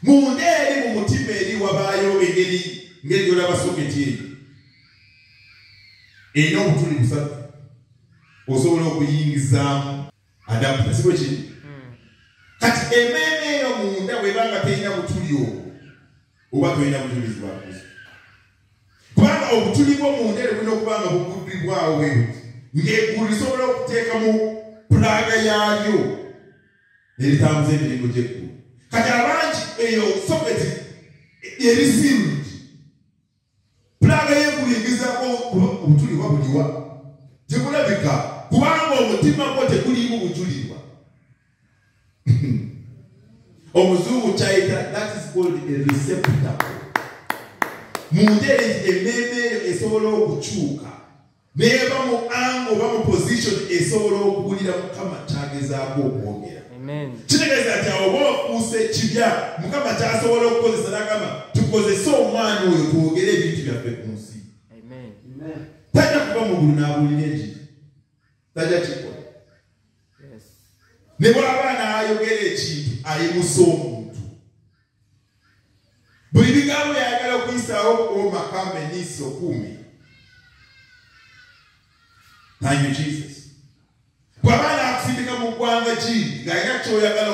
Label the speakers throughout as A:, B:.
A: munda eri mu mutima eri wabaayo engeri ngeri gyolaba soketi eyo erina obutuli busatu osobola okuyingizaamu adapta siko kiri hmm. kati emeeme eyo munda bwebanga terina butuli obwo oba tolina bujulizi bwa kristo kubanga obutuli bwo munda eri bulina okuba nga buguddibwawo bwebuti ng'eggulu lisobola okuteekamu pulaaga yaalyo neritambuza emirimu gyeggulu kati abangi eyo soketi erisiirundi pulaga yeggulu egezako obutulirwa buliwa tekulabika kubanga omutima gwo teguliimu bujulirwa omuzungu kyayita that is called a receptacle mu ngeri emmeeme esobola okukyuka neeba mu anga oba mu position esobola okuwulira mukama kyagezaako okwogera kitegeeza nti awo oba ofuusa ekibya mukama kyasobola okukozesa nagamba tukozese omwana oyo twogere ebintu byaffe ku nsi tajja kuba mugulu n'abulira enjiri tajja kikola ne bwaba n'ayogera ekintu ayimusa omuntu buli bigambo yayagala okuyisaawo kuoma kamenisi okuumi nanyo jesus bwaba nakusindika mu ggwanga ki ngaalina kyoyagala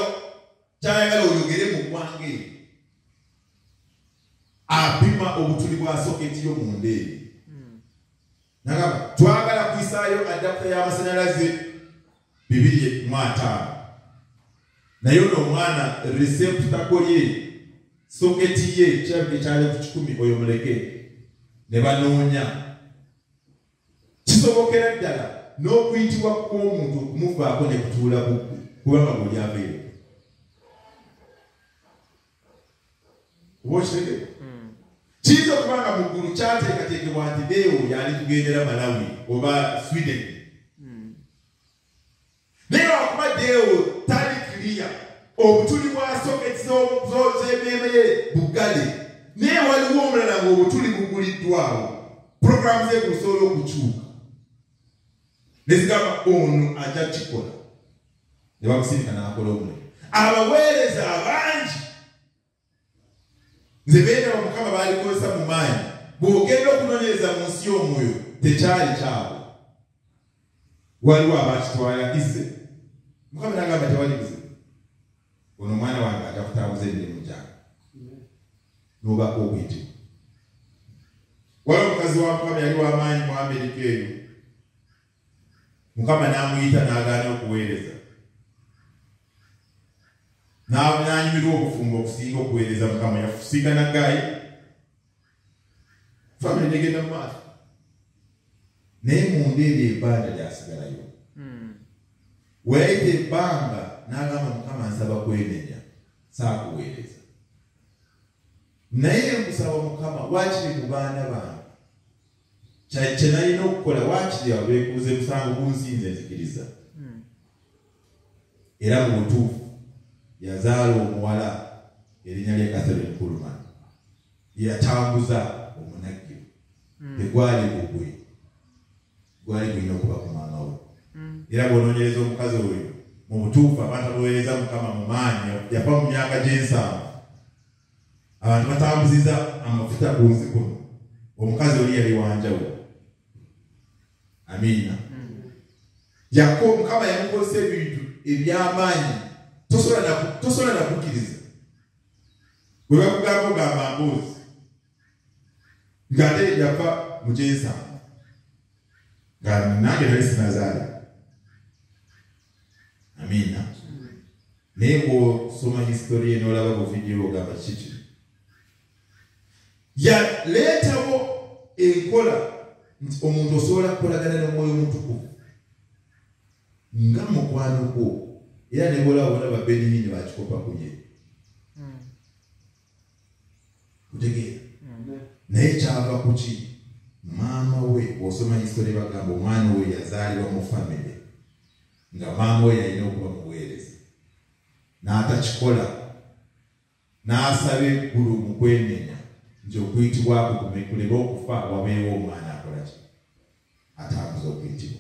A: kyayagala oyogere mu ggwanga eyo apima obutuli bwa soketi yo munda eyo nagamba twagala kuyisaayo adapta y'amasanyalaze bibiri mu ataano naye ono omwana reseputako ye soketi ye kirabika ekyali ku kikumi oyo muleke ne banoonya kisobokera ddala n'okuyitibwa kw'omuntu okumuvaako ne kutuula bubbi kubanga buli abeere oba okitegere hmm. kiyinza okuba nga mu ggulu kyateekateekebwa nti deewo yali kugendera malawi oba sweden hmm. naye lwakuba deewo tali kiriya obutuli bwasoketi z'emeeme ye buggale naye waliwo omulala ng'obutuli buguliddwawo puroguramu ze kusobola okukyuka nezigamba ono ajja kikola ne bamusirika n'akola omulimu abaweereza abangi nze beera omukama baalikozesa mu maanyi bw'ogenda okunoonyereza mu nsi y'omwoyo tekyali kyabwe waliwo abakitwala ize mukama nagamba tewali buze ono omwana wange aja kutambuza emirimu gyange nobaako obuyitimu waliwo omukazi wa mukama yali wamaanyi mu amerika eyo mukama n'amuyita n'agaana okuweereza n'anyumirwa obufumbo okusinga okuweereza mukama yafusiika naggayi famire negenda mu maaso naye munda ebyo ebbanja lyasigalayo hmm. weyayita ebbanga n'agamba mukama nsaba kwenenya saakuweereza naye nkusaba mukama wakiri mu baana bange kyenalina okukola wakiri awo bekuuza emusango gunsinze nzikiriza hmm. era mu butuufu yazaala omuwala erinnya lya katherine kulman yeyatambuza omunagiro hmm. tegwali gugwe gwali gulina okuba ku maama we hmm. era bwonoonyereza omukazi oyo mu butuufu abantu abowereza mukama mu maanyi yafa mu myaka gy'ensanvu abantu batambuziza amafuta ku nsi kuno omukazi oli yali wanjawulo amiina yako mukama yamukozesa ebintu ebyamaanyi tosobola nakukkiriza bwe bakugamba ogamba mboozi ngate yava mu kyensanvu nga nange nali sinazaala amiina naye bwosoma historia nolaba buvidiyo ogamba kiki yaleetawo enkola nti omuntu osobola kukolagana nomwoyo omutukuvu nga mukwano gwo era nebwolaba bona babeniyini bakikopa kuye kutegeera naye kyava kuki maama we osoma histori bagamba omwana oyo yazaalibwa mu famire nga maama we yalina okuba muweereza n'atakikola n'asaba eggulu mu kwenenya nti okuyitibwako kumekuleba okufa wabeewo omwana akolaki atambuza okuyitibwa